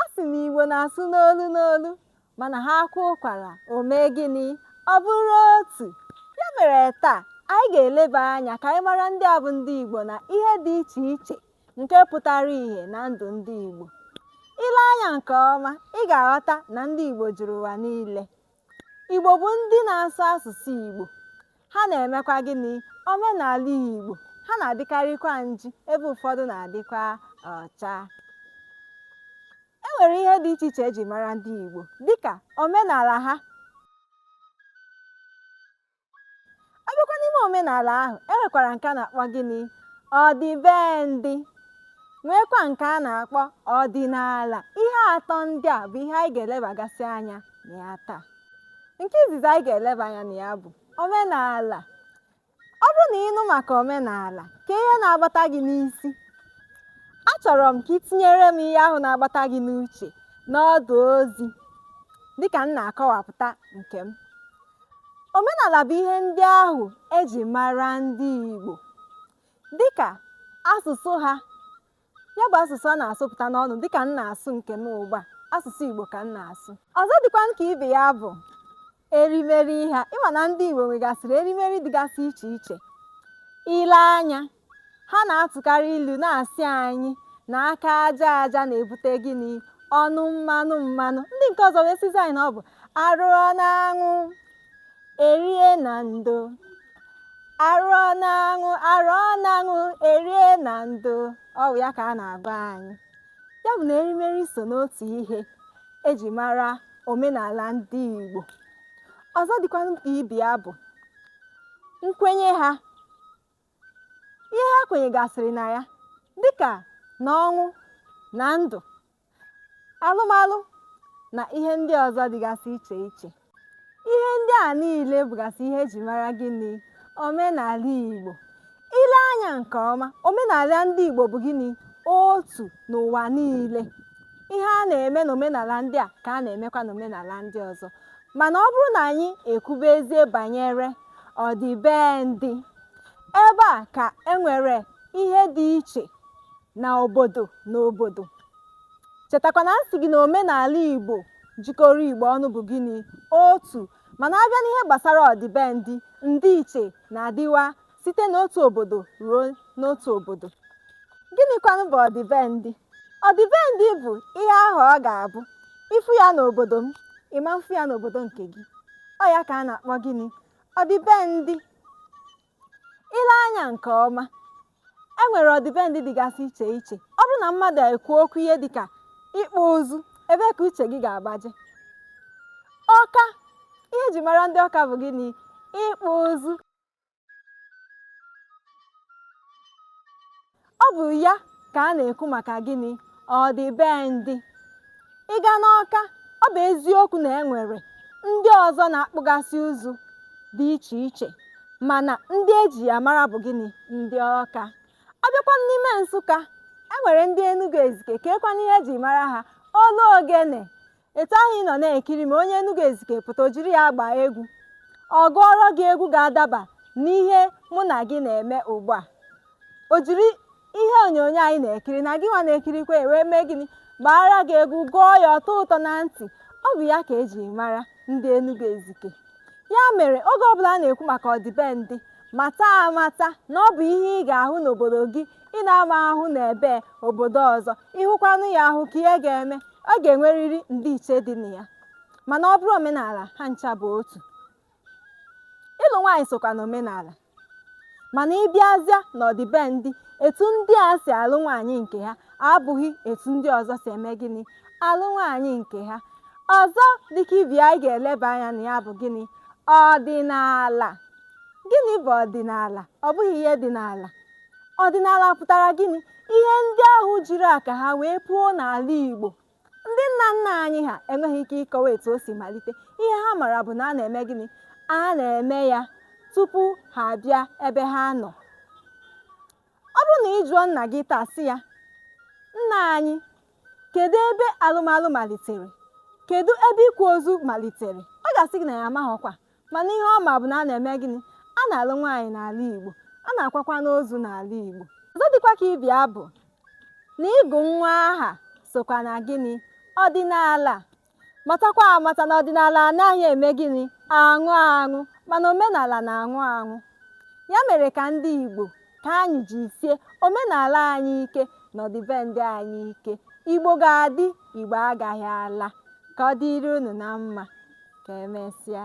A sị na Igbo na-asụ n'olu n'olu mana ha kwaa ụkwara o mee gịnị ọ bụrụ otu ya mere taa anyị ga-eleba anya ka anyị mara ndị a bụ ndị Igbo na ihe dị iche iche nke pụtara ìhè na ndụ ndị Igbo i lee anya nke ọma ị ga-aghọta na ndị Igbo juru ụwa niile Igbo bụ ndị na-asụ asụsụ Igbo. Ha na-emekwa gịnị? Omenala Igbo. Ha na-adịkarịkwa nji ebe ụfọdụ na-adịkwa ọcha. E nwere ihe dị iche iche eji mara ndị Igbo dịka omenala ha ọ bịakwa n'ime omenala ahụ e nwekwara nke a na-akpọ gịnị ọdịbendị nweekwa nke a na-akpọ ọdịnala ihe atọ ndị a bụ ihe anyị ga-elebagasị anya na ya taa nke izizi anyị ga-eleba anya na ya bụ omenala ọ bụrụ na ị nụ maka omenala kee ihe na-agbata gị n'isi achọrọ m ka i tinyere m ihe ahụ na-agbata gị n'uche n'ọdụ ozi dịka m na-akọwapụta nke m Omenala bụ ihe ndị ahụ e ji mara ndị Igbo dịka asụsụ ha ya bụ asụsụ a na-asụpụta n'ọnụ dịka m na-asụ nke m ugbu a asụsụ Igbo ka m na-asụ ọzọ dịkwa ka ibe ya bụ erimeri ha ị ma na ndị Igbo nwegasịrị erimeri dịgasị iche iche i lee anya ha na-atụkarị ilu na-asị anyị na aka aja aja na-ebute gịnị ọnụ mmanụ mmanụ ndị nke ọzọ wee sịzi anyị na ọ bụ a rụọ n'anwụ e rie na ndo a rụọ n'anwụ a rụọ n'anwụ e rie na ndo ọ bụ ya ka a na-agwa anyị ya bụ na erimeri so n'otu ihe eji mara omenala ndị Igbo ọzọ dịkwa ka ibe ya bụ nkwenye ha ihe ha kwenyegasịrị na ya dịka na ọnwụ na ndụ alụmalụ na ihe ndị ọzọ dịgasị iche iche ihe ndị a niile bụgasị ihe eji mara gịnị omenala Igbo i lee anya nke ọma omenala ndị Igbo bụ gịnị otu n'ụwa niile ihe a na-eme n'omenala ndị a ka a na-emekwa n'omenala ndị ọzọ mana ọ bụrụ na anyị ekwubezie banyere ọdịbendị Ebe a ka e nwere ihe dị iche na obodo na obodo. Chetakwa na m sị gị na omenala Igbo jikọrọ Igbo ọnụ bụ gịnị? Otu. Mana a bịa n'ihe gbasara ọdịbendị, ndịiche na-adịwa site n'otu obodo ruo n'otu obodo. Gịnịkwanụ bụ ọdịbendị? Ọdịbendị bụ ihe ahụ ọ ga-abụ ị fụ ya n'obodo m, ị ma-afụ ya n'obodo nke gị. Ọ ya ka a na-akpọ gịnị? Ọdịbendị. ile anya nke ọma e nwere ọdịbendị dịgasị iche iche ọ bụrụ na mmadụ ekwu okwu ihe dịka ịkpụ ụzụ ebee ka uche gị ga-agbaje ọka ihe eji mara ndị ọka bụ gịnị ịkpụ ụzụ ọ bụ ya ka a na-ekwu maka gịnị ọdịbendị ị gaa n'ọka ọ bụ eziokwu na e nwere ndị ọzọ na-akpụgasị ụzụ dị iche iche mana ndị eji ya mara bụ gịnị ndị ọka ọ bịakwa n'ime nsụka e nwere ndị enugu ezike keekwanụ ihe eji mara ha olu ogene etu ahụ ị nọ na-ekiri ma onye Enugu Ezike pụta o jiri ya gbaa egwu ọ gụọrọ gị egwu ga-adaba n'ihe mụ na gị na-eme ugbu a o jiri ihe onyonyo anyị na-ekiri na gị nwa na-ekirikwa ya wee mee gịnị gbaara gị egwu gụọ ya ọ tọọ ụtọ na ntị ọ bụ ya ka eji mara ndị Enugu Ezike ya mere oge ọbụla a na-ekwu maka ọdịbendị mata amata na ọ bụ ihe ị ga-ahụ n'obodo gị ị na-ama ahụ na ebe obodo ọzọ ịhụkwanụ ya ahụ kee ihe ga-eme ọ ga-enwerịrị ndịiche dị na ya mana ọ bụrụ omenala ha ncha bụ otu ịlụ nwaanyị sokwa na omenala mana ịbịazịa n'ọdịbendị etu ndị a si alụ nwaanyị nke ha abụghị etu ndị ọzọ si eme gịnị alụ nwaanyị nke ha ọzọ dịka ibe ya anyị ga-eleba anya na ya bụ gịnị ọdịnala gịnị bụ ọdịnala ọ bụghị ihe dị n'ala ọdịnala pụtara gịnị ihe ndị ahụ jiri aka ha wee puo n'ala Igbo ndị nna nna anyị ha enweghị ike ịkọwa etu o si malite ihe ha mara bụ na a na-eme gịnị a na-eme ya tupu ha abịa ebe ha nọ ọ bụrụ na ị jụọ nna gị taa sị ya nna anyị kedu ebe alụmalụ malitere kedu ebe ịkwa ozu malitere ọ ga-asị gị na ya amaghịkwa mana ihe ọ ma bụ na a na-eme gịnị a na-alụ nwaanyị n'ala Igbo a na-akwakwanụ ozu n'ala Igbo ọzọ dịkwa ka ibe ya bụ na ịgụ nwa aha sokwa na gịnị ọdịnala matakwa amata na ọdịnala anaghị eme gịnị anwụ anwụ mana omenala na-anwụ anwụ ya mere ka ndị Igbo ka anyị jisie omenala anyị ike na ọdịbendị anyị ike igbo ga-adị igbo agaghị ala ka ọ dịrị unu na mma ka emesịa